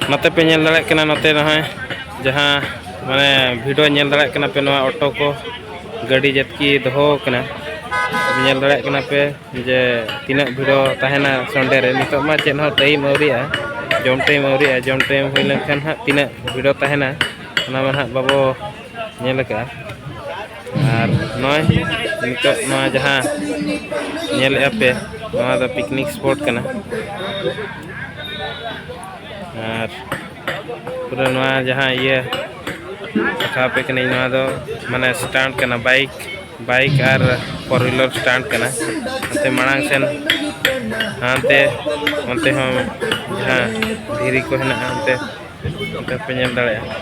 ᱱᱚᱛᱮ ᱯᱮ ᱧᱮᱞ ᱫᱟᱲᱮᱭᱟᱜ ᱠᱟᱱᱟ ᱱᱚᱛᱮ ᱱᱚᱜᱼᱚᱭ ᱡᱟᱦᱟᱸ ᱢᱟᱱᱮ ᱵᱷᱤᱰᱤᱭᱳ ᱧᱮᱞ ᱫᱟᱲᱮᱭᱟᱜ ᱠᱟᱱᱟ ᱯᱮ ᱱᱚᱣᱟ ᱚᱴᱳ ᱠᱚ ᱜᱟᱹᱰᱤ ᱡᱟᱛᱠᱤ ᱫᱚᱦᱚ ᱠᱟᱱᱟ ᱧᱮᱞ ᱫᱟᱲᱮᱭᱟᱜ ᱠᱟᱱᱟ ᱯᱮ ᱡᱮ ᱛᱤᱱᱟᱹᱜ ᱵᱷᱤᱲᱚ ᱛᱟᱦᱮᱱᱟ ᱥᱚᱱᱰᱮ ᱨᱮ ᱱᱤᱛᱚᱜ ᱢᱟ ᱪᱮᱫ ᱦᱚᱸ ᱴᱟᱭᱤᱢ ᱟᱹᱣᱨᱤᱜᱼᱟ ᱡᱚᱢ ᱴᱟᱭᱤᱢ ᱟᱹᱣᱨᱤᱜᱼᱟ ᱡᱚᱢ ᱴᱟᱭᱤᱢ ᱦᱩᱭ ᱞᱮᱱᱠᱷᱟᱱ ᱦᱟᱸᱜ ᱛᱤᱱᱟᱹᱜ ᱵᱷᱤᱲᱚ ᱛᱟᱦᱮᱱᱟ ᱚᱱᱟ ᱢᱟ ᱦᱟᱸᱜ ᱵᱟᱵᱚ ᱧᱮᱞ ᱟᱠᱟᱫᱼᱟ ᱟᱨ ᱱᱚᱜᱼᱚᱭ ᱱᱤᱛᱚᱜ ᱱᱚᱣᱟ ᱡᱟᱦᱟᱸ ᱧᱮᱞᱮᱫᱼᱟ ᱯᱮ ᱱᱚᱣᱟ ᱫᱚ ᱯᱤᱠᱱᱤᱠ ᱥᱯᱚᱴ ᱠᱟᱱᱟ ᱟᱨ ᱯᱩᱨᱟᱹ ᱱᱚᱣᱟ ᱡᱟᱦᱟᱸ ᱤᱭᱟᱹ ᱫᱮᱠᱷᱟᱣ ᱟᱯᱮ ᱠᱟᱹᱱᱟᱹᱧ ᱱᱚᱣᱟ ᱫᱚ ᱢᱟᱱᱮ ᱥᱴᱟᱱᱴ ᱠᱟᱱᱟ ᱵᱟᱭᱤᱠ ᱵᱟᱭᱤᱠ ᱟᱨ ᱯᱷᱳᱨ ᱦᱩᱭᱞᱟᱨ ᱥᱴᱟᱱᱴ ᱠᱟᱱᱟ ᱚᱱᱛᱮ ᱢᱟᱲᱟᱝ ᱥᱮᱱ ᱦᱟᱱᱛᱮ ᱚᱱᱛᱮ ᱦᱚᱸ ᱡᱟᱦᱟᱸ ᱫᱷᱤᱨᱤ ᱠᱚ ᱦᱮᱱᱟᱜᱼᱟ ᱚᱱᱛᱮ ᱱᱚᱛᱮ ᱯᱮ ᱧᱮᱞ ᱫᱟᱲᱮᱭᱟᱜᱼᱟ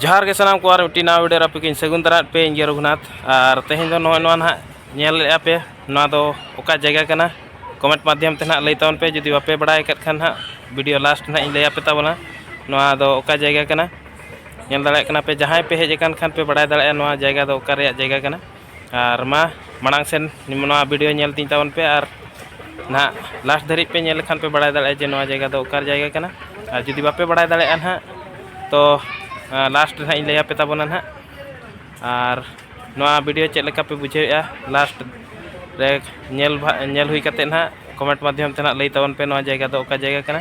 ᱡᱚᱦᱟᱨ ᱜᱮ ᱥᱟᱱᱟᱢ ᱠᱚ ᱟᱨ ᱢᱤᱫᱴᱤᱡ ᱱᱟᱣᱟ ᱵᱷᱤᱰᱤᱭᱳ ᱨᱮ ᱟᱯᱮᱠᱤᱧ ᱥᱟᱹᱜᱩᱱ ᱫᱟᱨᱟᱭᱮᱫ ᱯᱮ ᱤᱧ ᱨᱚᱜᱷᱩᱱᱟᱛᱷ ᱟᱨ ᱛᱮᱦᱮᱧ ᱫᱚ ᱱᱚᱜᱼᱚᱭ ᱱᱚᱣᱟ ᱱᱟᱦᱟᱜ ᱧᱮᱞᱮᱫᱼᱟ ᱯᱮ ᱱᱚᱣᱟ ᱫᱚ ᱚᱠᱟ ᱡᱟᱭᱜᱟ ᱠᱟᱱᱟ ᱠᱚᱢᱮᱱᱴ ᱢᱟᱫᱽᱫᱷᱚᱢ ᱛᱮ ᱱᱟᱦᱟᱜ ᱞᱟᱹᱭ ᱛᱟᱵᱚᱱ ᱯᱮ ᱡᱩᱫᱤ ᱵᱟᱯᱮ ᱵᱟᱲᱟᱭ ᱟᱠᱟᱫ ᱠᱷᱟᱱ ᱱᱟᱦᱟᱜ ᱵᱷᱤᱰᱤᱭᱳ ᱞᱟᱥᱴ ᱱᱟᱦᱟᱜ ᱤᱧ ᱞᱟᱹᱭᱟᱯᱮ ᱛᱟᱵᱚᱱᱟ ᱱᱚᱣᱟ ᱫᱚ ᱚᱠᱟ ᱡᱟᱭᱜᱟ ᱠᱟᱱᱟ ᱧᱮᱞ ᱫᱟᱲᱮᱭᱟᱜ ᱠᱟᱱᱟ ᱯᱮ ᱡᱟᱦᱟᱸᱭ ᱯᱮ ᱦᱮᱡ ᱟᱠᱟᱱ ᱠᱷᱟᱱ ᱯᱮ ᱵᱟᱲᱟᱭ ᱫᱟᱲᱮᱭᱟᱜᱼᱟ ᱱᱚᱣᱟ ᱡᱟᱭᱜᱟ ᱫᱚ ᱚᱠᱟ ᱨᱮᱭᱟᱜ ᱡᱟᱭᱜᱟ ᱠᱟᱱᱟ ᱟᱨ ᱢᱟ ᱢᱟᱲᱟᱝ ᱥᱮᱱ ᱱᱚᱣᱟ ᱵᱷᱤᱰᱤᱭᱳ ᱧᱮᱞ ᱛᱤᱧ ᱛᱟᱵᱚᱱ ᱯᱮ ᱟᱨ ᱱᱟᱦᱟᱜ ᱞᱟᱥᱴ ᱫᱷᱟᱹᱨᱤᱡ ᱯᱮ ᱧᱮᱞ ᱞᱮᱠᱷᱟᱱ ᱯᱮ ᱵᱟᱲᱟᱭ ᱫᱟᱲᱮᱭᱟᱜᱼᱟ ᱡᱮ ᱱᱚᱣᱟ ᱡᱟᱭᱜᱟ ᱫᱚ ᱚᱠᱟ ᱡᱟᱭᱜᱟ ᱠᱟᱱᱟ ᱟᱨ ᱡᱩᱫᱤ ᱵᱟᱯᱮ ᱵᱟᱲᱟᱭ ᱫᱟᱲᱮᱭᱟᱜᱼᱟ ᱱᱟᱦᱟᱜ ᱛᱚ ᱞᱟᱥᱴ ᱨᱮ ᱱᱟᱦᱟᱜ ᱤᱧ ᱞᱟᱹᱭᱟᱯᱮ ᱛᱟᱵᱚᱱᱟ ᱱᱟᱦᱟᱜ ᱟᱨ ᱱᱚᱣᱟ ᱵᱷᱤᱰᱤᱭᱳ ᱪᱮᱫ ᱞᱮᱠᱟ ᱯᱮ ᱵᱩᱡᱷᱟᱹᱣᱮᱫᱼᱟ ᱞᱟᱥᱴ ᱨᱮ ᱧᱮᱞ ᱧᱮᱞ ᱦᱩᱭ ᱠᱟᱛᱮᱫ ᱱᱟᱦᱟᱜ ᱠᱚᱢᱮᱱᱴ ᱢᱟᱫᱽᱫᱷᱚᱢ ᱛᱮ ᱱᱟᱦᱟᱜ ᱞᱟᱹᱭ ᱛᱟᱵᱚᱱ ᱯᱮ ᱱᱚᱣᱟ ᱡᱟᱭᱜᱟ ᱫᱚ ᱚᱠᱟ ᱡᱟᱭᱜᱟ ᱠᱟᱱᱟ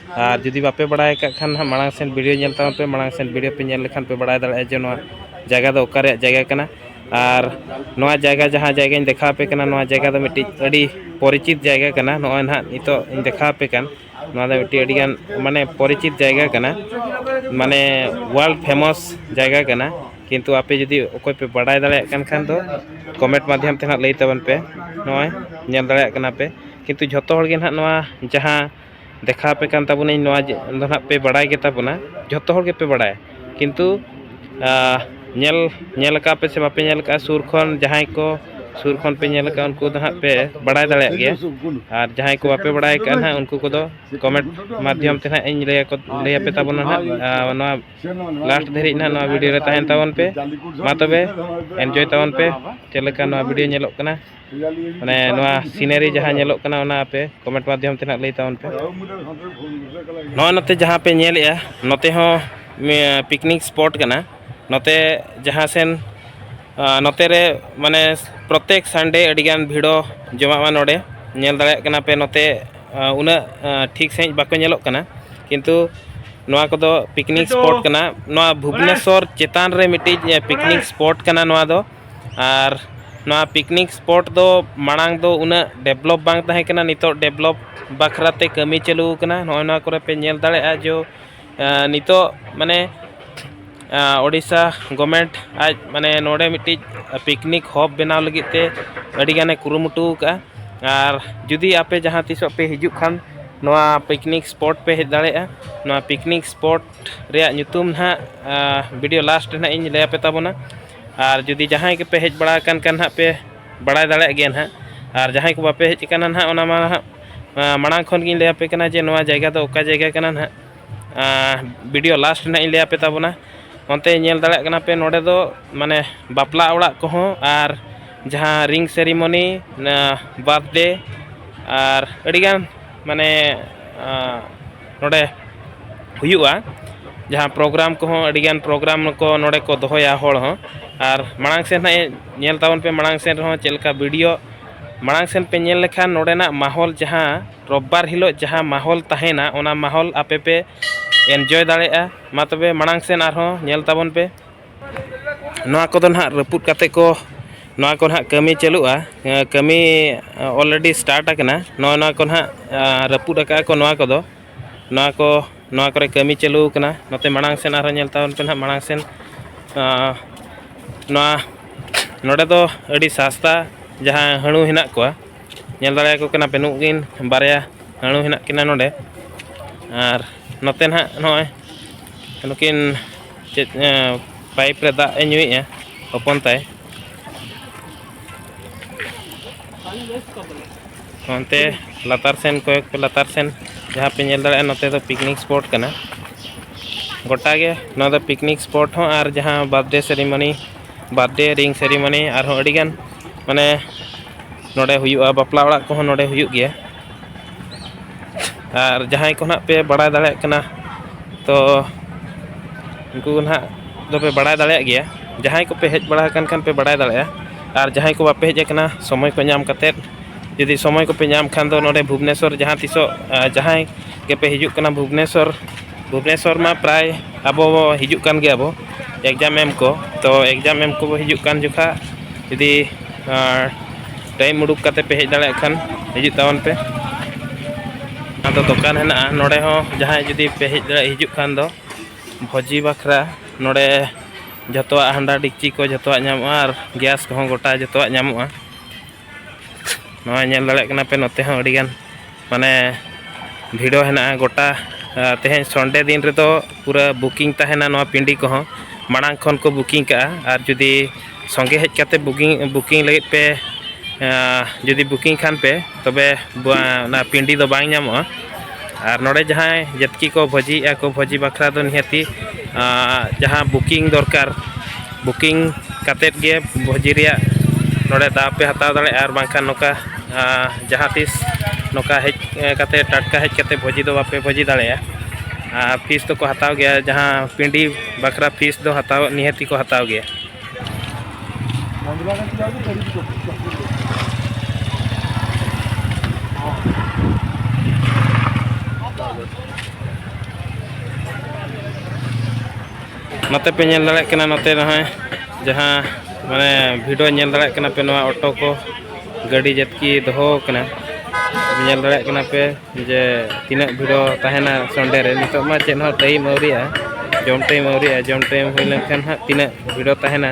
ᱟᱨ ᱡᱩᱫᱤ ᱵᱟᱯᱮ ᱵᱟᱲᱟᱭ ᱠᱟᱜ ᱠᱷᱟᱱ ᱦᱟᱸᱜ ᱢᱟᱲᱟᱝ ᱥᱮᱱ ᱵᱷᱤᱰᱤᱭᱳ ᱧᱮᱞ ᱛᱟᱵᱚᱱ ᱯᱮ ᱢᱟᱲᱟᱝ ᱥᱮᱱ ᱵᱷᱤᱰᱤᱭᱳ ᱯᱮ ᱧᱮᱞ ᱞᱮᱠᱷᱟᱱ ᱯᱮ ᱵᱟᱲᱟᱭ ᱫᱟᱲᱮᱭᱟᱜᱼᱟ ᱡᱮ ᱱᱚᱣᱟ ᱡᱟᱭᱜᱟ ᱫᱚ ᱚᱠᱟ ᱨᱮᱭᱟᱜ ᱡᱟᱭᱜᱟ ᱠᱟᱱᱟ ᱟᱨ ᱱᱚᱣᱟ ᱡᱟᱭᱜᱟ ᱡᱟᱦᱟᱸ ᱡᱟᱭᱜᱟᱧ ᱫᱮᱠᱷᱟᱣ ᱟᱯᱮ ᱠᱟᱱᱟ ᱱᱚᱣᱟ ᱡᱟᱭᱜᱟ ᱫᱚ ᱢᱤᱫᱴᱤᱡ ᱟᱹᱰᱤ ᱯᱚᱨᱤᱪᱤᱛ ᱡᱟᱭᱜᱟ ᱠᱟᱱᱟ ᱱᱚᱜᱼᱚᱭ ᱱᱟᱦᱟᱜ ᱱᱤᱛᱚᱜ ᱤᱧ ᱫᱮᱠᱷᱟᱣ ᱟᱯᱮ ᱠᱟᱱ ᱱᱚᱣᱟ ᱫᱚ ᱢᱤᱫᱴᱤᱡ ᱟᱹᱰᱤ ᱜᱟᱱ ᱢᱟᱱᱮ ᱯᱚᱨᱤᱪᱤᱛ ᱡᱟᱭᱜᱟ ᱠᱟᱱᱟ ᱢᱟᱱᱮ ᱳᱣᱟᱨᱞᱰ ᱯᱷᱮᱢᱚᱥ ᱡᱟᱭᱜᱟ ᱠᱟᱱᱟ ᱠᱤᱱᱛᱩ ᱟᱯᱮ ᱡᱩᱫᱤ ᱚᱠᱚᱭ ᱯᱮ ᱵᱟᱰᱟᱭ ᱫᱟᱲᱮᱭᱟᱜ ᱠᱟᱱ ᱠᱷᱟᱱ ᱫᱚ ᱠᱚᱢᱮᱱᱴ ᱢᱟᱫᱽᱫᱷᱚᱢ ᱛᱮ ᱦᱟᱸᱜ ᱞᱟᱹᱭ ᱛᱟᱵᱚᱱ ᱯᱮ ᱱᱚᱜᱼᱚᱭ ᱧᱮᱞ ᱫᱟᱲᱮᱭᱟᱜ ᱠᱟᱱᱟ ᱯᱮ ᱠᱤᱱᱛᱩ ᱡᱚᱛᱚ ᱦᱚᱲ ᱜᱮ ᱱᱟᱦᱟᱜ ᱱᱚᱣᱟ ᱡᱟᱦᱟᱸ ᱫᱮᱠᱷᱟᱣ ᱟᱯᱮ ᱠᱟᱱ ᱛᱟᱵᱚᱱᱟᱹᱧ ᱱᱚᱣᱟ ᱫᱚ ᱱᱟᱦᱟᱜ ᱯᱮ ᱵᱟᱲᱟᱭ ᱜᱮᱛᱟ ᱵᱚᱱᱟ ᱡᱚᱛᱚ ᱦᱚᱲ ᱜᱮᱯᱮ ᱵᱟᱲᱟᱭᱟ ᱠᱤᱱᱛᱩ ᱧᱮᱞ ᱧᱮᱞ ᱠᱟᱜᱼᱟ ᱯᱮᱥᱮ ᱵᱟᱯᱮ ᱧᱮᱞ ᱠᱟᱜᱼᱟ ᱥᱩᱨ ᱠᱷᱚᱱ ᱡᱟᱦᱟᱸᱭ ᱠᱚ ᱥᱩᱨ ᱠᱷᱚᱱ ᱯᱮ ᱧᱮᱞ ᱠᱟᱜᱼᱟ ᱩᱱᱠᱩ ᱫᱚ ᱱᱟᱦᱟᱜ ᱯᱮ ᱵᱟᱲᱟᱭ ᱫᱟᱲᱮᱭᱟᱜ ᱜᱮᱭᱟ ᱟᱨ ᱡᱟᱦᱟᱸᱭ ᱠᱚ ᱵᱟᱯᱮ ᱵᱟᱲᱟᱭ ᱠᱟᱜᱼᱟ ᱱᱟᱦᱟᱜ ᱩᱱᱠᱩ ᱠᱚᱫᱚ ᱠᱚᱢᱮᱱᱴ ᱢᱟᱫᱽᱫᱷᱚᱢ ᱛᱮ ᱱᱟᱦᱟᱜ ᱤᱧ ᱞᱟᱹᱭ ᱟᱠᱚ ᱞᱟᱹᱭ ᱟᱯᱮ ᱛᱟᱵᱚᱱᱟ ᱱᱟᱦᱟᱜ ᱱᱚᱣᱟ ᱞᱟᱥᱴ ᱫᱷᱟᱹᱨᱤᱡ ᱱᱟᱦᱟᱜ ᱱᱚᱣᱟ ᱵᱷᱤᱰᱤᱭᱳ ᱨᱮ ᱛᱟᱦᱮᱱ ᱛᱟᱵᱚᱱ ᱯᱮ ᱢᱟ ᱛᱚᱵᱮ ᱮᱱᱡᱚᱭ ᱛᱟᱵᱚᱱ ᱯᱮ ᱪᱮᱫ ᱞᱮᱠᱟ ᱱᱚᱣᱟ ᱵᱷᱤᱰᱤᱭᱳ ᱧᱮᱞᱚᱜ ᱠᱟᱱᱟ ᱢᱟᱱᱮ ᱱᱚᱣᱟ ᱥᱤᱱᱟᱨᱤ ᱡᱟᱦᱟᱸ ᱧᱮᱞᱚᱜ ᱠᱟᱱᱟ ᱚᱱᱟ ᱟᱯᱮ ᱠᱚᱢᱮᱱᱴ ᱢᱟᱫᱽᱫᱷᱚᱢ ᱛᱮ ᱱᱟᱦᱟᱜ ᱞᱟᱹᱭ ᱛᱟᱵᱚᱱ ᱯᱮ ᱱᱚᱜᱼᱚᱭ ᱱᱚᱛᱮ ᱡᱟᱦᱟᱸ ᱯᱮ ᱧᱮᱞᱮᱜᱼᱟ ᱱᱚᱛᱮ ᱦᱚᱸ ᱯᱤᱠᱱᱤᱠ ᱥᱯᱚᱴ ᱠᱟᱱᱟ ᱱᱚᱛᱮ ᱡᱟᱦᱟᱸ ᱥᱮᱱ ᱱᱚᱛᱮ ᱨᱮ ᱢᱟᱱᱮ ᱯᱨᱚᱛᱮᱠ ᱥᱟᱱᱰᱮ ᱟᱹᱰᱤᱜᱟᱱ ᱵᱷᱤᱲᱚ ᱡᱚᱢᱟᱜᱼᱟ ᱱᱚᱰᱮ ᱧᱮᱞ ᱫᱟᱲᱮᱭᱟᱜ ᱠᱟᱱᱟ ᱯᱮ ᱱᱚᱛᱮ ᱩᱱᱟᱹᱜ ᱴᱷᱤᱠ ᱥᱟᱺᱦᱤᱡ ᱵᱟᱠᱚ ᱧᱮᱞᱚᱜ ᱠᱟᱱᱟ ᱠᱤᱱᱛᱩ ᱱᱚᱣᱟ ᱠᱚᱫᱚ ᱯᱤᱠᱱᱤᱠ ᱥᱯᱚᱴ ᱠᱟᱱᱟ ᱱᱚᱣᱟ ᱵᱷᱩᱵᱽᱱᱮᱥᱥᱚᱨ ᱪᱮᱛᱟᱱ ᱨᱮ ᱢᱤᱫᱴᱤᱡ ᱯᱤᱠᱱᱤᱠ ᱥᱯᱚᱴ ᱠᱟᱱᱟ ᱱᱚᱣᱟ ᱫᱚ ᱟᱨ ᱱᱚᱣᱟ ᱯᱤᱠᱱᱤᱠ ᱥᱯᱚᱴ ᱫᱚ ᱢᱟᱲᱟᱝ ᱫᱚ ᱩᱱᱟᱹᱜ ᱰᱮᱵᱷᱞᱚᱯ ᱵᱟᱝ ᱛᱟᱦᱮᱸ ᱠᱟᱱᱟ ᱱᱤᱛᱚᱜ ᱰᱮᱵᱷᱞᱚᱯ ᱵᱟᱠᱷᱨᱟ ᱛᱮ ᱠᱟᱹᱢᱤ ᱪᱟᱹᱞᱩ ᱟᱠᱟᱱᱟ ᱱᱚᱜᱼᱚᱸᱭ ᱱᱚᱣᱟ ᱠᱚᱨᱮᱜ ᱯᱮ ᱧᱮᱞ ᱫᱟᱲᱮᱭᱟᱜᱼᱟ ᱡᱮ ᱱᱤᱛᱚᱜ ᱢᱟᱱᱮ ᱳᱰᱤᱥᱟ ᱜᱚᱨᱢᱮᱱᱴ ᱟᱡ ᱢᱟᱱᱮ ᱱᱚᱰᱮ ᱢᱤᱫᱴᱤᱡ ᱯᱤᱠᱱᱤᱠ ᱦᱚᱵ ᱵᱮᱱᱟᱣ ᱞᱟᱹᱜᱤᱫ ᱛᱮ ᱟᱹᱰᱤ ᱜᱟᱱᱮ ᱠᱩᱨᱩᱢᱩᱴᱩ ᱟᱠᱟᱜᱼᱟ ᱟᱨ ᱡᱩᱫᱤ ᱟᱯᱮ ᱡᱟᱦᱟᱸ ᱛᱤᱥᱚᱜ ᱯᱮ ᱦᱤᱡᱩᱜ ᱠᱷᱟᱱ ᱱᱚᱣᱟ ᱯᱤᱠᱱᱤᱠ ᱥᱯᱚᱴ ᱯᱮ ᱦᱮᱡ ᱫᱟᱲᱮᱭᱟᱜᱼᱟ ᱱᱚᱣᱟ ᱯᱤᱠᱱᱤᱠ ᱥᱯᱚᱴ ᱨᱮᱭᱟᱜ ᱧᱩᱛᱩᱢ ᱦᱟᱸᱜ ᱵᱷᱤᱰᱤᱭᱳ ᱞᱟᱥᱴ ᱨᱮ ᱦᱟᱸᱜ ᱤᱧ ᱞᱟᱹᱭ ᱟᱯᱮ ᱛᱟᱵᱚᱱᱟ ᱟᱨ ᱡᱩᱫᱤ ᱡᱟᱦᱟᱸᱭ ᱜᱮᱯᱮ ᱦᱮᱡ ᱵᱟᱲᱟ ᱟᱠᱟᱱ ᱠᱷᱟᱱ ᱱᱟᱦᱟᱜ ᱯᱮ ᱵᱟᱲᱟᱭ ᱫᱟᱲᱮᱭᱟᱜ ᱜᱮᱭᱟ ᱱᱟᱦᱟᱜ ᱟᱨ ᱡᱟᱦᱟᱸᱭ ᱠᱚ ᱵᱟᱯᱮ ᱦᱮᱡ ᱟᱠᱟᱱᱟ ᱱᱟᱦᱟᱜ ᱚᱱᱟ ᱢᱟ ᱱᱟᱦᱟᱜ ᱢᱟᱲᱟᱝ ᱠᱷᱚᱱ ᱜᱤᱧ ᱞᱟᱹᱭ ᱟᱯᱮ ᱠᱟᱱᱟ ᱡᱮ ᱱᱚᱣᱟ ᱡᱟᱭᱜᱟ ᱫᱚ ᱚᱠᱟ ᱡᱟᱭᱜᱟ ᱠᱟᱱᱟ ᱱᱟᱦᱟᱜ ᱵᱷᱤᱰᱤᱭᱳ ᱞᱟᱥᱴ ᱨᱮ ᱱᱟᱦᱟᱜ ᱤᱧ ᱞᱟᱹᱭ ᱟᱯᱮ ᱛᱟᱵᱚᱱᱟ ᱚᱱᱛᱮ ᱧᱮᱞ ᱫᱟᱲᱮᱭᱟᱜ ᱠᱟᱱᱟ ᱯᱮ ᱱᱚᱰᱮ ᱫᱚ ᱢᱟᱱᱮ ᱵᱟᱯᱞᱟ ᱚᱲᱟᱜ ᱠᱚᱦᱚᱸ ᱟᱨ ᱡᱟᱦᱟᱸ ᱨᱤᱝ ᱥᱮᱨᱮᱢᱚᱱᱤ ᱵᱟᱨᱛᱷᱰᱮ ᱟᱨ ᱟᱹᱰᱤᱜᱟᱱ ᱢᱟᱱᱮ ᱱᱚᱰᱮ ᱦᱩᱭᱩᱜᱼᱟ ᱡᱟᱦᱟᱸ ᱯᱨᱳᱜᱨᱟᱢ ᱠᱚᱦᱚᱸ ᱟᱹᱰᱤᱜᱟᱱ ᱯᱨᱳᱜᱨᱟᱢ ᱠᱚ ᱱᱚᱰᱮ ᱠᱚ ᱫᱚᱦᱚᱭᱟ ᱦᱚᱲ ᱦᱚᱸ ᱟᱨ ᱢᱟᱲᱟᱝ ᱥᱮᱫ ᱦᱟᱸᱜ ᱧᱮᱞ ᱛᱟᱵᱚᱱ ᱯᱮ ᱢᱟᱲᱟᱝ ᱥᱮᱫ ᱨᱮᱦᱚᱸ ᱪᱮᱫ ᱞᱮᱠᱟ ᱵᱷᱤᱰᱤᱭᱳ ᱢᱟᱲᱟᱝ ᱥᱮᱫ ᱯᱮ ᱧᱮᱞ ᱞᱮᱠᱷᱟᱱ ᱱᱚᱰᱮᱱᱟᱜ ᱢᱟᱦᱚᱞ ᱡᱟᱦᱟᱸ ᱨᱳᱵᱽᱵᱟᱨ ᱦᱤᱞᱳᱜ ᱡᱟᱦᱟᱸ ᱢᱟᱦᱚᱞ ᱛᱟᱦᱮᱱᱟ ᱚᱱᱟ ᱢᱟᱦᱚᱞ ᱟᱯᱮ ᱯᱮ ᱮᱱᱡᱚᱭ ᱫᱟᱲᱮᱭᱟᱜᱼᱟ ᱢᱟ ᱛᱚᱵᱮ ᱢᱟᱲᱟᱝ ᱥᱮᱫ ᱟᱨᱦᱚᱸ ᱧᱮᱞ ᱛᱟᱵᱚᱱ ᱯᱮ ᱱᱚᱣᱟ ᱠᱚᱫᱚ ᱱᱟᱦᱟᱜ ᱨᱟᱹᱯᱩᱫ ᱠᱟᱛᱮ ᱠᱚ ᱱᱚᱣᱟ ᱠᱚ ᱱᱟᱦᱟᱜ ᱠᱟᱹᱢᱤ ᱪᱟᱹᱞᱩᱜᱼᱟ ᱠᱟᱹᱢᱤ ᱚᱞᱨᱮᱰᱤ ᱥᱴᱟᱨᱴ ᱟᱠᱟᱱᱟ ᱱᱚᱜᱼᱚᱸᱭ ᱱᱚᱣᱟ ᱠᱚ ᱱᱟᱦᱟᱜ ᱨᱟᱹᱯᱩᱫ ᱟᱠᱟᱜᱼᱟ ᱠᱚ ᱱᱚᱣᱟ ᱠᱚᱫᱚ ᱱᱚᱣᱟ ᱠᱚ ᱱᱚᱣᱟ ᱠᱚᱨᱮ ᱠᱟᱹᱢᱤ ᱪᱟᱹᱞᱩ ᱠᱟᱱᱟ ᱱᱚᱛᱮ ᱢᱟᱲᱟᱝ ᱥᱮᱫ ᱟᱨᱦᱚᱸ ᱧᱮᱞ ᱛᱟᱵᱚᱱ ᱯᱮ ᱱᱟᱦᱟᱜ ᱢᱟᱲᱟᱝ ᱥᱮᱫ ᱱᱚᱣᱟ ᱱᱚᱰᱮ ᱫᱚ ᱟᱹᱰᱤ ᱥᱟᱥᱛᱟ ᱡᱟᱦᱟᱸ ᱦᱟᱹᱬᱩ ᱦᱮᱱᱟᱜ ᱠᱚᱣᱟ ᱧᱮᱞ ᱫᱟᱲᱮᱭᱟᱠᱚ ᱠᱟᱱᱟ ᱯᱮ ᱱᱩᱠᱤᱱ ᱵᱟᱨᱭᱟ ᱦᱟᱹᱬᱩ ᱦᱮᱱᱟᱜ ᱠᱤᱱᱟ ᱱᱚᱰᱮ ᱟᱨ ᱱᱚᱛᱮ ᱱᱟᱦᱟᱜ ᱱᱚᱜᱼᱚᱸᱭ ᱱᱩᱠᱤᱱ ᱪᱮᱫ ᱯᱟᱭᱤᱯ ᱨᱮ ᱫᱟᱜ ᱮ ᱧᱩᱭᱮᱫᱼᱟ ᱦᱚᱯᱚᱱ ᱛᱟᱭ ᱚᱱᱛᱮ ᱞᱟᱛᱟᱨ ᱥᱮᱱ ᱠᱚᱭᱮᱠ ᱯᱮ ᱞᱟᱛᱟᱨ ᱥᱮᱱ ᱡᱟᱦᱟᱸ ᱯᱮ ᱧᱮᱞ ᱫᱟᱲᱮᱭᱟᱜᱼᱟ ᱱᱚᱛᱮ ᱫᱚ ᱯᱤᱠᱱᱤᱠ ᱥᱯᱚᱴ ᱠᱟᱱᱟ ᱜᱚᱴᱟ ᱜᱮ ᱱᱚᱣᱟ ᱫᱚ ᱯᱤᱠᱱᱤᱠ ᱥᱯᱚᱴ ᱦᱚᱸ ᱟᱨ ᱡᱟᱦᱟᱸ ᱵᱟᱨᱛᱷᱰᱮ ᱥᱮᱨᱮᱢᱚᱱᱤ ᱵᱟᱨᱛᱷᱰᱮ ᱨᱤᱝ ᱥᱮᱨᱮᱢᱚᱱᱤ ᱟᱨᱦᱚᱸ ᱟᱹᱰᱤᱜᱟᱱ ᱢᱟᱱᱮ ᱱᱚᱰᱮ ᱦᱩᱭᱩᱜᱼᱟ ᱵᱟᱯᱞᱟ ᱚᱲᱟᱜ ᱠᱚᱦᱚᱸ ᱱᱚᱰᱮ ᱦᱩᱭᱩᱜ ᱜᱮᱭᱟ ᱟᱨ ᱡᱟᱦᱟᱸᱭ ᱠᱚ ᱱᱟᱦᱟᱜ ᱯᱮ ᱵᱟᱲᱟᱭ ᱫᱟᱲᱮᱭᱟᱜ ᱠᱟᱱᱟ ᱛᱚ ᱩᱱᱠᱩ ᱱᱟᱦᱟᱜ ᱫᱚᱯᱮ ᱵᱟᱲᱟᱭ ᱫᱟᱲᱮᱭᱟᱜ ᱜᱮᱭᱟ ᱡᱟᱦᱟᱸᱭ ᱠᱚᱯᱮ ᱦᱮᱡ ᱵᱟᱲᱟ ᱟᱠᱟᱱ ᱠᱷᱟᱱ ᱯᱮ ᱵᱟᱲᱟᱭ ᱫᱟᱲᱮᱭᱟᱜᱼᱟ ᱟᱨ ᱡᱟᱦᱟᱸᱭ ᱠᱚ ᱵᱟᱯᱮ ᱦᱮᱡ ᱟᱠᱟᱱᱟ ᱥᱚᱢᱚᱭ ᱠᱚ ᱧᱟᱢ ᱠᱟᱛᱮᱫ ᱡᱩᱫᱤ ᱥᱚᱢᱚᱭ ᱠᱚᱯᱮ ᱧᱟᱢ ᱠᱷᱟᱱ ᱫᱚ ᱱᱚᱰᱮ ᱵᱷᱩᱵᱽᱱᱮᱥᱥᱚᱨ ᱡᱟᱦᱟᱸ ᱛᱤᱥᱚᱜ ᱡᱟᱦᱟᱸᱭ ᱜᱮᱯᱮ ᱦᱤᱡᱩᱜ ᱠᱟᱱᱟ ᱵᱷᱩᱵᱽᱱᱮᱥᱥᱚᱨ ᱵᱷᱩᱵᱽᱱᱮᱥᱚᱨ ᱢᱟ ᱯᱨᱟᱭ ᱟᱵᱚ ᱦᱤᱡᱩᱜ ᱠᱟᱱ ᱜᱮᱭᱟ ᱵᱚ ᱮᱠᱡᱟᱢ ᱮᱢ ᱠᱚ ᱛᱚ ᱮᱠᱡᱟᱢ ᱮᱢ ᱠᱚ ᱦᱤᱡᱩᱜ ᱠᱟᱱ ᱡᱚᱠᱷᱟᱡ ᱡᱩᱫᱤ ᱴᱟᱭᱤᱢ ᱩᱰᱩᱠ ᱠᱟᱛᱮ ᱯᱮ ᱦᱮᱡ ᱫᱟᱲᱮᱭᱟᱜ ᱠᱷᱟᱱ ᱦᱤᱡᱩᱜ ᱛᱟᱵᱚᱱ ᱯᱮ ᱟᱫᱚ ᱫᱚᱠᱟᱱ ᱦᱮᱱᱟᱜᱼᱟ ᱱᱚᱰᱮ ᱦᱚᱸ ᱡᱟᱦᱟᱸᱭ ᱡᱩᱫᱤ ᱯᱮ ᱦᱮᱡ ᱫᱟᱲᱮᱭᱟᱜ ᱦᱤᱡᱩᱜ ᱠᱷᱟᱱ ᱫᱚ ᱵᱷᱚᱡᱤ ᱵᱟᱠᱷᱨᱟ ᱱᱚᱰᱮ ᱡᱚᱛᱚᱣᱟᱜ ᱦᱟᱱᱰᱟ ᱰᱮᱠᱪᱤ ᱠᱚ ᱡᱚᱛᱚᱣᱟᱜ ᱧᱟᱢᱚᱜᱼᱟ ᱟᱨ ᱜᱮᱥ ᱠᱚᱦᱚᱸ ᱜᱚᱴᱟ ᱡᱚᱛᱚᱣᱟᱜ ᱧᱟᱢᱚᱜᱼᱟ ᱱᱚᱣᱟ ᱧᱮᱞ ᱫᱟᱲᱮᱭᱟᱜ ᱠᱟᱱᱟ ᱯᱮ ᱱᱚᱛᱮ ᱦᱚᱸ ᱟᱹᱰᱤ ᱜᱟᱱ ᱢᱟᱱᱮ ᱵᱷᱤᱲ ᱦᱮᱱᱟᱜᱼᱟ ᱜᱚᱴᱟ ᱛᱮᱦᱮᱧ ᱥᱚᱱᱰᱮ ᱫᱤᱱ ᱨᱮᱫᱚ ᱯᱩᱨᱟᱹ ᱵᱩᱠᱤᱝ ᱛᱟᱦᱮᱱᱟ ᱱᱚᱣᱟ ᱯᱤᱱᱰᱤ ᱠᱚᱦᱚᱸ ᱢᱟᱲᱟᱝ ᱠᱷᱚᱱ ᱠᱚ ᱵᱩᱠᱤᱝ ᱠᱟᱜᱼᱟ ᱟᱨ ᱡᱩᱫᱤ ᱥᱚᱸᱜᱮ ᱦᱮᱡ ᱠᱟᱛᱮ ᱵᱩᱠᱤᱝ ᱵᱩᱠᱤᱝ ᱞᱟᱹᱜᱤᱫ ᱯᱮ ᱡᱩᱫᱤ ᱵᱩᱠᱤᱝ ᱠᱷᱟᱱ ᱯᱮ ᱛᱚᱵᱮ ᱚᱱᱟ ᱯᱤᱱᱰᱤ ᱫᱚ ᱵᱟᱝ ᱧᱟᱢᱚᱜᱼᱟ ᱟᱨ ᱱᱚᱰᱮ ᱡᱟᱦᱟᱸᱭ ᱡᱟᱹᱛᱠᱤ ᱠᱚ ᱵᱷᱚᱡᱤᱭᱮᱜᱼᱟ ᱠᱚ ᱵᱷᱚᱡᱤ ᱵᱟᱠᱷᱨᱟ ᱫᱚ ᱱᱤᱦᱟᱹᱛᱤ ᱡᱟᱦᱟᱸ ᱵᱩᱠᱤᱝ ᱫᱚᱨᱠᱟᱨ ᱵᱩᱠᱤᱝ ᱠᱟᱛᱮᱫ ᱜᱮ ᱵᱷᱚᱡᱤ ᱨᱮᱭᱟᱜ ᱱᱚᱰᱮ ᱫᱟᱣ ᱯᱮ ᱦᱟᱛᱟᱣ ᱫᱟᱲᱮᱭᱟᱜᱼᱟ ᱟᱨ ᱵᱟᱝᱠᱷᱟᱱ ᱱᱚᱝᱠᱟ ᱡᱟᱦᱟᱸ ᱛᱤᱥ ᱱᱚᱝᱠᱟ ᱦᱮᱡ ᱠᱟᱛᱮ ᱴᱟᱴᱠᱟ ᱦᱮᱡ ᱠᱟᱛᱮ ᱵᱷᱚᱡᱤ ᱫᱚ ᱵᱟᱯᱮ ᱵᱷᱚᱡᱤ ᱫᱟᱲᱮᱭᱟᱜᱼᱟ ᱟᱨ ᱯᱷᱤᱥ ᱫᱚᱠᱚ ᱦᱟᱛᱟᱣ ᱜᱮᱭᱟ ᱡᱟᱦᱟᱸ ᱯᱤᱸᱰᱤ ᱵᱟᱠᱷᱨᱟ ᱯᱷᱤᱥ ᱫᱚ ᱦᱟᱛᱟᱣ ᱱᱤᱦᱟᱹᱛ ᱜᱮᱠᱚ ᱦᱟᱛᱟᱣ ᱜᱮᱭᱟ ᱱᱚᱛᱮ ᱯᱮ ᱧᱮᱞ ᱫᱟᱲᱮᱭᱟᱜ ᱠᱟᱱᱟ ᱱᱚᱛᱮ ᱱᱚᱜᱼᱚᱭ ᱡᱟᱦᱟᱸ ᱢᱟᱱᱮ ᱵᱷᱤᱰᱤᱭᱳ ᱧᱮᱞ ᱫᱟᱲᱮᱭᱟᱜ ᱠᱟᱱᱟ ᱯᱮ ᱱᱚᱣᱟ ᱚᱴᱳ ᱠᱚ ᱜᱟᱹᱰᱤ ᱡᱟᱛᱠᱤ ᱫᱚᱦᱚ ᱠᱟᱱᱟ ᱧᱮᱞ ᱫᱟᱲᱮᱭᱟᱜ ᱠᱟᱱᱟ ᱯᱮ ᱡᱮ ᱛᱤᱱᱟᱹᱜ ᱵᱷᱤᱲᱚ ᱛᱟᱦᱮᱱᱟ ᱥᱚᱱᱰᱮ ᱨᱮ ᱱᱤᱛᱚᱜ ᱢᱟ ᱪᱮᱫ ᱦᱚᱸ ᱴᱟᱭᱤᱢ ᱟᱹᱣᱨᱤᱜᱼᱟ ᱡᱚᱢ ᱴᱟᱭᱤᱢ ᱟᱹᱣᱨᱤᱜᱼᱟ ᱡᱚᱢ ᱴᱟᱭᱤᱢ ᱦᱩᱭ ᱞᱮᱱᱠᱷᱟᱱ ᱦᱟᱸᱜ ᱛᱤᱱᱟᱹᱜ ᱵᱷᱤᱲᱚ ᱛᱟᱦᱮᱱᱟ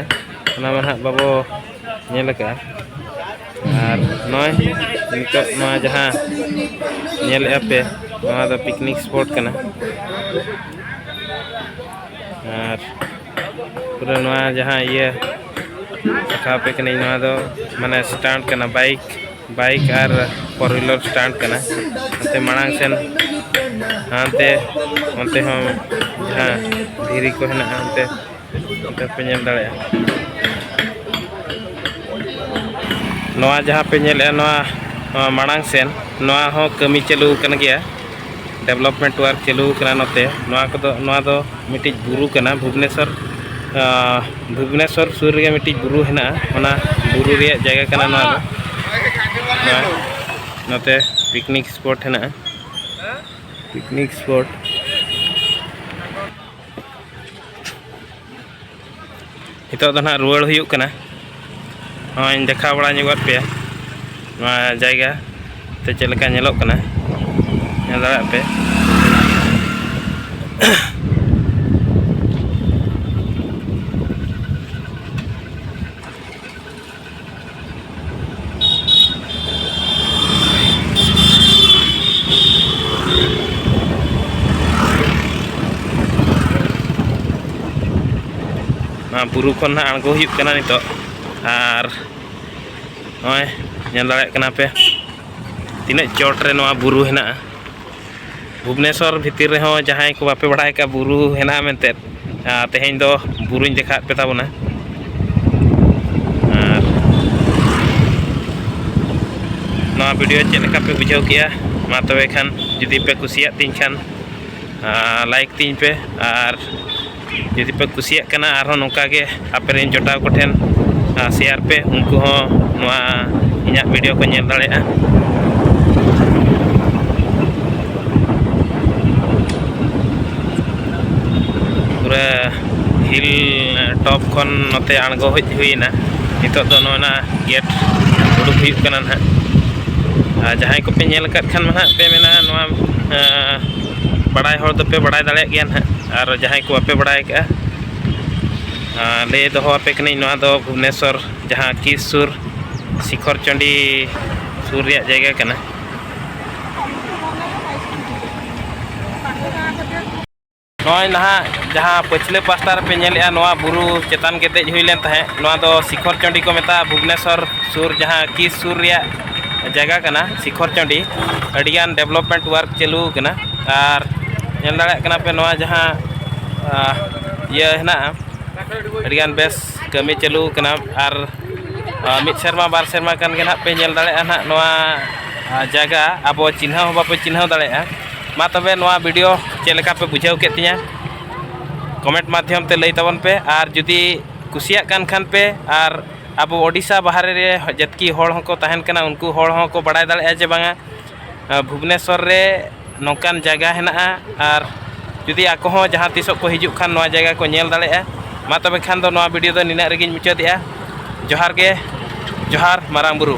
ᱚᱱᱟ ᱢᱟ ᱦᱟᱸᱜ ᱵᱟᱵᱚ ᱧᱮᱞ ᱟᱠᱟᱫᱼᱟ ᱟᱨ ᱱᱚᱜᱼᱚᱭ ᱱᱤᱛᱚᱜ ᱱᱚᱣᱟ ᱡᱟᱦᱟᱸ ᱧᱮᱞᱮᱫᱼᱟ ᱯᱮ ᱱᱚᱣᱟ ᱫᱚ ᱯᱤᱠᱱᱤᱠ ᱥᱯᱚᱴ ᱠᱟᱱᱟ ᱟᱨ ᱯᱩᱨᱟᱹ ᱱᱚᱣᱟ ᱡᱟᱦᱟᱸ ᱤᱭᱟᱹ ᱫᱮᱠᱷᱟᱣ ᱟᱯᱮ ᱠᱟᱹᱱᱟᱹᱧ ᱱᱚᱣᱟ ᱫᱚ ᱢᱟᱱᱮ ᱥᱴᱟᱱᱴ ᱠᱟᱱᱟ ᱵᱟᱭᱤᱠ ᱵᱟᱭᱤᱠ ᱟᱨ ᱯᱷᱳᱨ ᱦᱩᱭᱞᱟᱨ ᱥᱴᱟᱱᱴ ᱠᱟᱱᱟ ᱚᱱᱛᱮ ᱢᱟᱲᱟᱝ ᱥᱮᱱ ᱦᱟᱱᱛᱮ ᱚᱱᱛᱮ ᱦᱚᱸ ᱡᱟᱦᱟᱸ ᱫᱷᱤᱨᱤ ᱠᱚ ᱦᱮᱱᱟᱜᱼᱟ ᱚᱱᱛᱮ ᱱᱚᱛᱮ ᱯᱮ ᱧᱮᱞ ᱫᱟᱲᱮᱭᱟᱜᱼᱟ ᱱᱚᱣᱟ ᱡᱟᱦᱟᱸ ᱯᱮ ᱧᱮᱞᱮᱜᱼᱟ ᱱᱚᱣᱟ ᱱᱚᱣᱟ ᱢᱟᱲᱟᱝ ᱥᱮᱱ ᱱᱚᱣᱟ ᱦᱚᱸ ᱠᱟᱹᱢᱤ ᱪᱟᱹᱞᱩ ᱟᱠᱟᱱ ᱜᱮᱭᱟ ᱰᱮᱵᱷᱞᱚᱯᱢᱮᱱᱴ ᱣᱟᱨᱠ ᱪᱟᱹᱞᱩ ᱟᱠᱟᱱᱟ ᱱᱚᱛᱮ ᱱᱚᱣᱟ ᱠᱚᱫᱚ ᱱᱚᱣᱟ ᱫᱚ ᱢᱤᱫᱴᱤᱡ ᱵᱩᱨᱩ ᱠᱟᱱᱟ ᱵᱷᱩᱵᱽᱱᱮᱥᱚᱨ ᱵᱷᱩᱵᱽᱱᱮᱥᱚᱨ ᱥᱩᱨ ᱨᱮᱜᱮ ᱢᱤᱫᱴᱤᱡ ᱵᱩᱨᱩ ᱦᱮᱱᱟᱜᱼᱟ ᱚᱱᱟ ᱵᱩᱨᱩ ᱨᱮᱭᱟᱜ ᱡᱟᱭᱜᱟ ᱠᱟᱱᱟ ᱱᱚᱣᱟ ᱫᱚ ᱱᱚᱣᱟ ᱱᱚᱛᱮ ᱯᱤᱠᱱᱤᱠ ᱥᱯᱚᱴ ᱦᱮᱱᱟᱜᱼᱟ ᱯᱤᱠᱱᱤᱠ ᱥᱯᱚᱴ ᱱᱤᱛᱚᱜ ᱫᱚ ᱱᱟᱦᱟᱜ ᱨᱩᱣᱟᱹᱲ ᱦᱩᱭᱩᱜ ᱠᱟᱱᱟ ᱱᱚᱜᱼᱚᱭ ᱫᱮᱠᱷᱟᱣ ᱵᱟᱲᱟ ᱧᱚᱜᱟᱫ ᱯᱮᱭᱟ ᱱᱚᱣᱟ ᱡᱟᱭᱜᱟ ᱛᱮ ᱪᱮᱫ ᱞᱮᱠᱟ ᱧᱮᱞᱚᱜ ᱠᱟᱱᱟ ᱧᱮᱞ ᱫᱟᱲᱮᱭᱟᱜ ᱯᱮ ᱵᱩᱨᱩ ᱠᱷᱚᱱ ᱱᱟᱜ ᱟᱬᱜᱚ ᱦᱩᱭᱩᱜ ᱠᱟᱱᱟ ᱱᱤᱛᱚᱜ ᱟᱨ ᱱᱚᱜᱼᱚᱭ ᱧᱮᱞ ᱫᱟᱲᱮᱭᱟᱜ ᱠᱟᱱᱟ ᱯᱮ ᱛᱤᱱᱟᱹᱜ ᱪᱚᱴ ᱨᱮ ᱱᱚᱣᱟ ᱵᱩᱨᱩ ᱦᱮᱱᱟᱜᱼᱟ ᱵᱷᱩᱵᱽᱱᱮᱥᱚᱨ ᱵᱷᱤᱛᱤᱨ ᱨᱮᱦᱚᱸ ᱡᱟᱦᱟᱸᱭ ᱠᱚ ᱵᱟᱯᱮ ᱵᱟᱲᱟᱭ ᱠᱟᱜᱼᱟ ᱵᱩᱨᱩ ᱦᱮᱱᱟᱜᱼᱟ ᱢᱮᱱᱛᱮ ᱛᱮᱦᱮᱧ ᱫᱚ ᱵᱩᱨᱩᱧ ᱫᱮᱠᱷᱟᱣᱮᱫ ᱯᱮ ᱛᱟᱵᱚᱱᱟ ᱟᱨ ᱱᱚᱣᱟ ᱵᱷᱤᱰᱤᱭᱳ ᱪᱮᱫ ᱞᱮᱠᱟ ᱯᱮ ᱵᱩᱡᱷᱟᱹᱣ ᱠᱮᱜᱼᱟ ᱢᱟ ᱛᱚᱵᱮ ᱠᱷᱟᱱ ᱡᱩᱫᱤ ᱯᱮ ᱠᱩᱥᱤᱭᱟᱜ ᱛᱤᱧ ᱠᱷᱟᱱ ᱞᱟᱭᱤᱠ ᱛᱤᱧ ᱯᱮ ᱟᱨ ᱡᱩᱫᱤ ᱯᱮ ᱠᱩᱥᱤᱭᱟᱜ ᱠᱟᱱᱟ ᱟᱨᱦᱚᱸ ᱱᱚᱝᱠᱟ ᱜᱮ ᱟᱯᱮ ᱨᱮᱱ ᱡᱚᱴᱟᱣ ᱠᱚᱴᱷᱮᱱ ᱥᱮᱭᱟᱨ ᱯᱮ ᱩᱱᱠᱩ ᱦᱚᱸ ᱱᱚᱣᱟ ᱤᱧᱟᱹᱜ ᱵᱷᱤᱰᱤᱭᱳ ᱠᱚ ᱧᱮᱞ ᱫᱟᱲᱮᱭᱟᱜᱼᱟ ᱯᱩᱨᱟᱹ ᱦᱤᱞ ᱴᱚᱯ ᱠᱷᱚᱱ ᱱᱚᱛᱮ ᱟᱬᱜᱚ ᱦᱮᱡ ᱦᱩᱭᱱᱟ ᱱᱤᱛᱚᱜ ᱫᱚ ᱱᱚᱜᱼᱚᱱᱟ ᱜᱮᱴ ᱩᱰᱩᱠ ᱦᱩᱭᱩᱜ ᱠᱟᱱᱟ ᱱᱟᱦᱟᱜ ᱟᱨ ᱡᱟᱦᱟᱸᱭ ᱠᱚᱯᱮ ᱧᱮᱞ ᱟᱠᱟᱫ ᱠᱷᱟᱱ ᱢᱟ ᱱᱟᱦᱟᱜ ᱯᱮ ᱢᱮᱱᱟ ᱱᱚᱣᱟ ᱵᱟᱲᱟᱭ ᱦᱚᱲ ᱫᱚᱯᱮ ᱵᱟᱲᱟᱭ ᱫᱟᱲᱮᱭᱟᱜ ᱜᱮᱭᱟ ᱱᱟᱦᱟᱜ ᱟᱨ ᱡᱟᱦᱟᱸᱭ ᱠᱚ ᱵᱟᱯᱮ ᱵᱟᱲᱟᱭ ᱠᱟᱜᱼᱟ ᱞᱟᱹᱭ ᱫᱚᱦᱚ ᱟᱯᱮ ᱠᱟᱹᱱᱟᱹᱧ ᱱᱚᱣᱟ ᱫᱚ ᱵᱷᱩᱵᱽᱱᱮᱥᱚᱨ ᱡᱟᱦᱟᱸ ᱠᱤᱥ ᱥᱩᱨ ᱥᱤᱠᱷᱚᱨ ᱪᱚᱱᱰᱤ ᱥᱩᱨ ᱨᱮᱭᱟᱜ ᱡᱟᱭᱜᱟ ᱠᱟᱱᱟ ᱱᱚᱜᱼᱚᱭ ᱱᱟᱦᱟᱜ ᱡᱟᱦᱟᱸ ᱯᱟᱹᱪᱷᱞᱟᱹ ᱯᱟᱥᱴᱟ ᱨᱮᱯᱮ ᱧᱮᱞᱮᱜᱼᱟ ᱱᱚᱣᱟ ᱵᱩᱨᱩ ᱪᱮᱛᱟᱱ ᱜᱮ ᱫᱮᱡ ᱦᱩᱭ ᱞᱮᱱ ᱛᱟᱦᱮᱸᱫ ᱱᱚᱣᱟ ᱫᱚ ᱥᱤᱠᱷᱚᱨ ᱪᱚᱱᱰᱤ ᱠᱚ ᱢᱮᱛᱟᱜᱼᱟ ᱵᱷᱩᱵᱽᱱᱮᱥᱚᱨ ᱥᱩᱨ ᱡᱟᱦᱟᱸ ᱠᱤᱥ ᱥᱩᱨ ᱨᱮᱭᱟᱜ ᱡᱟᱭᱜᱟ ᱠᱟᱱᱟ ᱥᱤᱠᱷᱚᱨ ᱪᱟᱹᱰᱤ ᱟᱹᱰᱤᱜᱟᱱ ᱰᱮᱵᱷᱞᱚᱯᱢᱮᱱᱴ ᱳᱣᱟᱨᱠ ᱪᱟᱹᱞᱩ ᱟᱠᱟᱱᱟ ᱟᱨ ᱧᱮᱞ ᱫᱟᱲᱮᱭᱟᱜ ᱠᱟᱱᱟ ᱯᱮ ᱱᱚᱣᱟ ᱡᱟᱦᱟᱸ ᱤᱭᱟᱹ ᱦᱮᱱᱟᱜᱼᱟ ᱟᱹᱰᱤᱜᱟᱱ ᱵᱮᱥ ᱠᱟᱹᱢᱤ ᱪᱟᱹᱞᱩ ᱟᱠᱟᱱᱟ ᱟᱨ ᱢᱤᱫ ᱥᱮᱨᱢᱟ ᱵᱟᱨ ᱥᱮᱨᱢᱟ ᱠᱟᱱ ᱜᱮ ᱱᱟᱦᱟᱜ ᱯᱮ ᱧᱮᱞ ᱫᱟᱲᱮᱭᱟᱜᱼᱟ ᱱᱟᱦᱟᱜ ᱱᱚᱣᱟ ᱡᱟᱭᱜᱟ ᱟᱵᱚ ᱪᱤᱱᱦᱟᱹ ᱦᱚᱸ ᱵᱟᱯᱮ ᱪᱤᱱᱦᱟᱹ ᱫᱟᱲᱮᱭᱟᱜᱼᱟ ᱢᱟ ᱛᱚᱵᱮ ᱱᱚᱣᱟ ᱵᱷᱤᱰᱤᱭᱳ ᱪᱮᱫ ᱞᱮᱠᱟ ᱯᱮ ᱵᱩᱡᱷᱟᱹᱣ ᱠᱮᱫ ᱛᱤᱧᱟ ᱠᱚᱢᱮᱱᱴ ᱢᱟᱫᱽᱫᱷᱚᱢ ᱛᱮ ᱞᱟᱹᱭ ᱛᱟᱵᱚᱱ ᱯᱮ ᱟᱨ ᱡᱩᱫᱤ ᱠᱩᱥᱤᱭᱟᱜ ᱠᱟᱱ ᱠᱷᱟᱱ ᱯᱮ ᱟᱨ ᱟᱵᱚ ᱳᱰᱤᱥᱟ ᱵᱟᱦᱨᱮ ᱨᱮ ᱡᱟᱹᱛᱠᱤ ᱦᱚᱲ ᱦᱚᱸᱠᱚ ᱛᱟᱦᱮᱱ ᱠᱟᱱᱟ ᱩᱱᱠᱩ ᱦᱚᱲ ᱦᱚᱸᱠᱚ ᱵᱟᱲᱟᱭ ᱫᱟᱲᱮᱭᱟᱜᱼᱟ ᱡᱮ ᱵᱟᱝᱟ ᱵᱷᱩᱵᱽᱱᱮᱥᱥᱚᱨ ᱨᱮ ᱱᱚᱝᱠᱟᱱ ᱡᱟᱭᱜᱟ ᱦᱮᱱᱟᱜᱼᱟ ᱟᱨ ᱡᱩᱫᱤ ᱟᱠᱚ ᱦᱚᱸ ᱡᱟᱦᱟᱸ ᱛᱤᱥᱚᱜ ᱠᱚ ᱦᱤᱡᱩᱜ ᱠᱷᱟᱱ ᱱᱚᱣᱟ ᱡᱟᱭᱜᱟ ᱠᱚ ᱧᱮᱞ ᱫᱟᱲᱮᱭᱟᱜᱼᱟ ᱢᱟ ᱛᱚᱵᱮ ᱠᱷᱟᱱ ᱫᱚ ᱱᱚᱣᱟ ᱵᱷᱤᱰᱤᱭᱳ ᱫᱚ ᱱᱤᱱᱟᱹᱜ ᱨᱮᱜᱮᱧ ᱢᱩᱪᱟᱹᱫᱮᱜᱼᱟ ᱡᱚᱦᱟᱨ ᱜᱮ ᱡᱚᱦᱟᱨ ᱢᱟᱨᱟᱝ ᱵᱩᱨᱩ